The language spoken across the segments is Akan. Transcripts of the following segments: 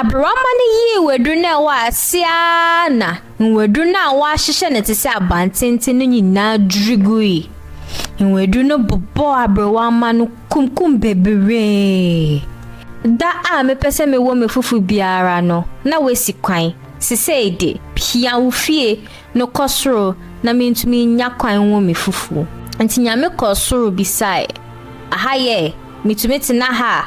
Aberewamma no yii nwaduru no a ɛwɔ ase ara na nwaduru no a wɔahyehyɛ no te sɛ abantenten no nyinaa dwiri gui. Nwaduru no bobɔɔ aberewamma no kunkum bebree. Da a mepɛ sɛ mewɔ m'afufo biara no, na wasi kwan. Seesei de, hia wo fie, Mekɔ soro na mentumi nnya kwan nwo me fufuo. Nti Nyame kɔɔ soro bisae, Aha yɛ? Metumi tena ha a?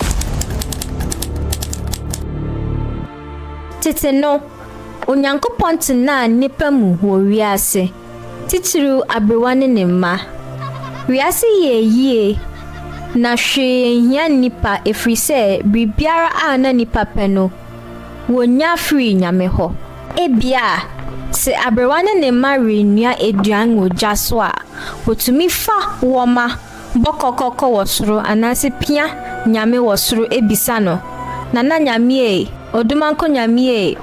Tete no, Onyankopɔn tenaa nnipa mu wɔ wiase, titiriw aberewa ne ne mma. Wiase yɛɛ yie, na hwee anhia nnipa ɛfiri sɛ biribiara a na nnipa pɛ no, wɔnya firii Nyame hɔ. Ebia, sɛ aberewa ne ne mma renoa aduan wɔ gya so a, wotumi fa wɔma bɔ kɔkɔ kɔ wɔ soro anaasɛ pia Nyame wɔ soro bisa no, Nana Nyame ei, Odumankɔ Nyame ei,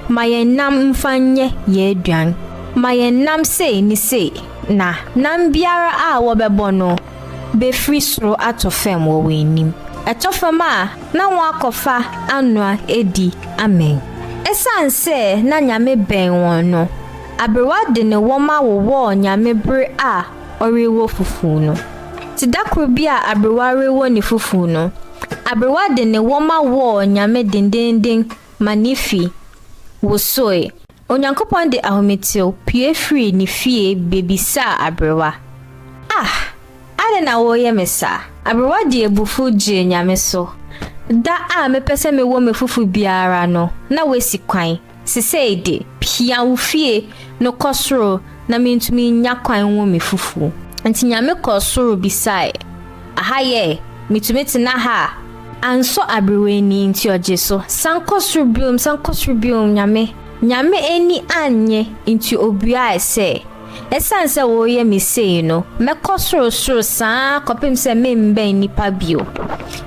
ma yɛn nam mfa nyɛ yɛn aduan. Ma yɛn nam sei ne sei. Na nam biara a wɔbɛbɔ no, befiri soro atɔ fam wɔ wɔn anim. Ɛtɔ fam a, na wɔakɔfa anoa adi amee. Esiane sɛ na Nyame bɛn wɔn no, aberewa de ne wɔma wowɔɔ Nyame bere a ɔrewɔ fufuw no. Te da koro bi a aberewa rewɔ ne fufuw no, aberewa de ne wɔma wɔɔ Nyame dendenden ma ne fi wosoe. Onyankopɔn de ahometew pue firii ne fie bebisaa aberewa, Ah! Adɛn na woreyɛ me saa? Aberewa de abufuw gyee Nyame so, Da a mepɛ sɛ mewɔ me fofo biara no, na woasi kwan, sesɛɛ de, pia wo fie no kɔ soro na mintumi nnya kwan nwo me fofo. Enti Nyame kɔɔ soro bisae, Aha yɛ, metumi tena ha a. Ansɔ aberewa ani nti ɔgye so. San kɔ soro biom, san kɔ soro biom, Nyame. Nyame ani annye nti obuae sɛ, Esiane sɛ woreyɛ me sei no, mɛkɔ sorosoro saa kɔpem sɛ meremmɛn nnipa bio.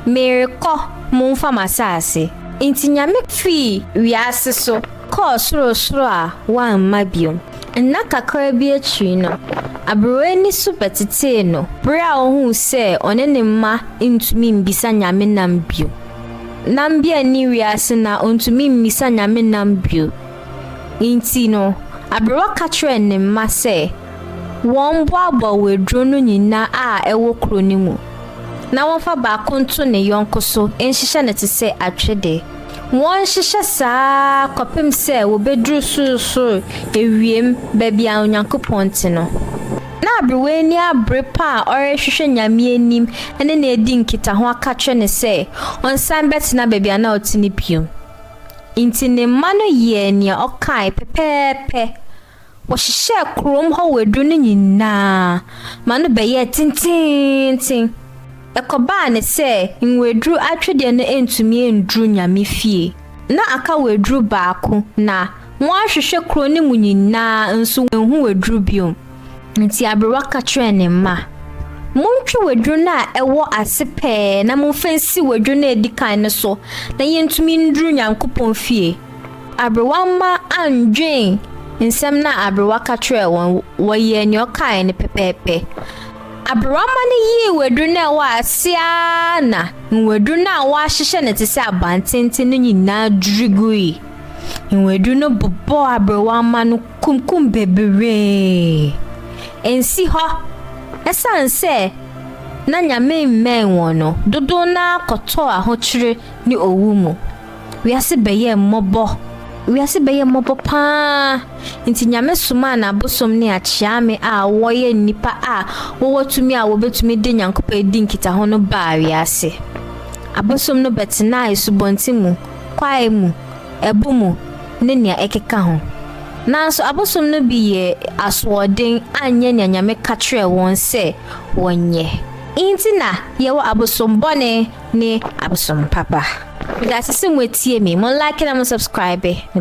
Merekɔ, momfa m'asaase. Nti Nyame fii wiase so. kɔɔ sorosoro a wamma bio. Nna kakraa bi akyiri no, aberewa ani so bɛtetee no bere a ohui sɛ ɔne ne mma ntumi mmisa Nyame nam bio. Ná Mbia nni wiase na ontumi mmisa Nyame nam bio. Enti no, aberewa ka kyerɛɛ ne mma sɛ wɔmmoaboa waduro no nyinaa a ɛwɔ kuro no mu na wɔmfa baako nto ne yɔnko so nhyehyɛ no te sɛ atwede. Wɔnhyehyɛ saa ara kɔpem sɛ wɔbɛduru sorosoro awiem, baabi a Onyankopɔn te no. Na aberewaani abere pa a ɔrehwehwɛ Nyame anim ne no adi nkitaho aka kyerɛ no sɛ ɔnsan bɛtena baabi a na ɔte no bio. Nti ne mma no yɛɛ nea ɔkae pɛpɛɛpɛ. Wɔhyehyɛɛ kurom hɔ wadu no nyinaa ma no bɛyɛɛ tenteenten. Ɛkɔbaa ne sɛ nwaduru atwedeɛ no antumi anduru Nyame fie. Na aka waduru baako, na wɔahwehwɛ kuro no mu nyinaa nso wɔanhu waduru biom. Nti aberewa ka kyerɛɛ ne mma, Montwe waduru no a ɛwɔ ase pɛɛ na momfa nsi waduru no a ɛdi kan no so na yɛntumi nduru Nyankopɔn fie. Aberewa mma annwen nsɛm no a aberewa ka kyerɛɛ wɔn, wɔyɛɛ nea ɔkae no pɛpɛɛpɛ. Aberewa mma no yii waduru no a ɛwɔ ase ara na nwaduru no a wɔahyehyɛ no te sɛ abantenten no nyinaa dwiri gui. Nwaduru no bobɔɔ aberewa mma no kunkum bebree. Ensi hɔ, esiane sɛ na Nyame mmɛn wɔn no, dodow no ara kɔtɔɔ ahokyere ne owu mu. Wiase bɛyɛɛ mmɔbɔ, wiase bɛyɛɛ mmɔbɔ paa, nti Nyame somaa n'abosom ne akyeame a wɔyɛ nnipa a wɔwɔ tumi a wɔbɛtumi de Nyankopɔn adi nkitaho no baa wiase. Abosom no bɛtenaa asubɔnten mu, kwae mu, ɛbo mu, ne nea ɛkeka ho. Nanso abosom no bi yɛɛ asoɔden anyɛ nea Nyame ka kyerɛɛ wɔn sɛ wɔnyɛ. Nti na yɛwɔ abosom bɔne ne abosom papa. Medase sɛ moatie me, mo like na mo subscribe.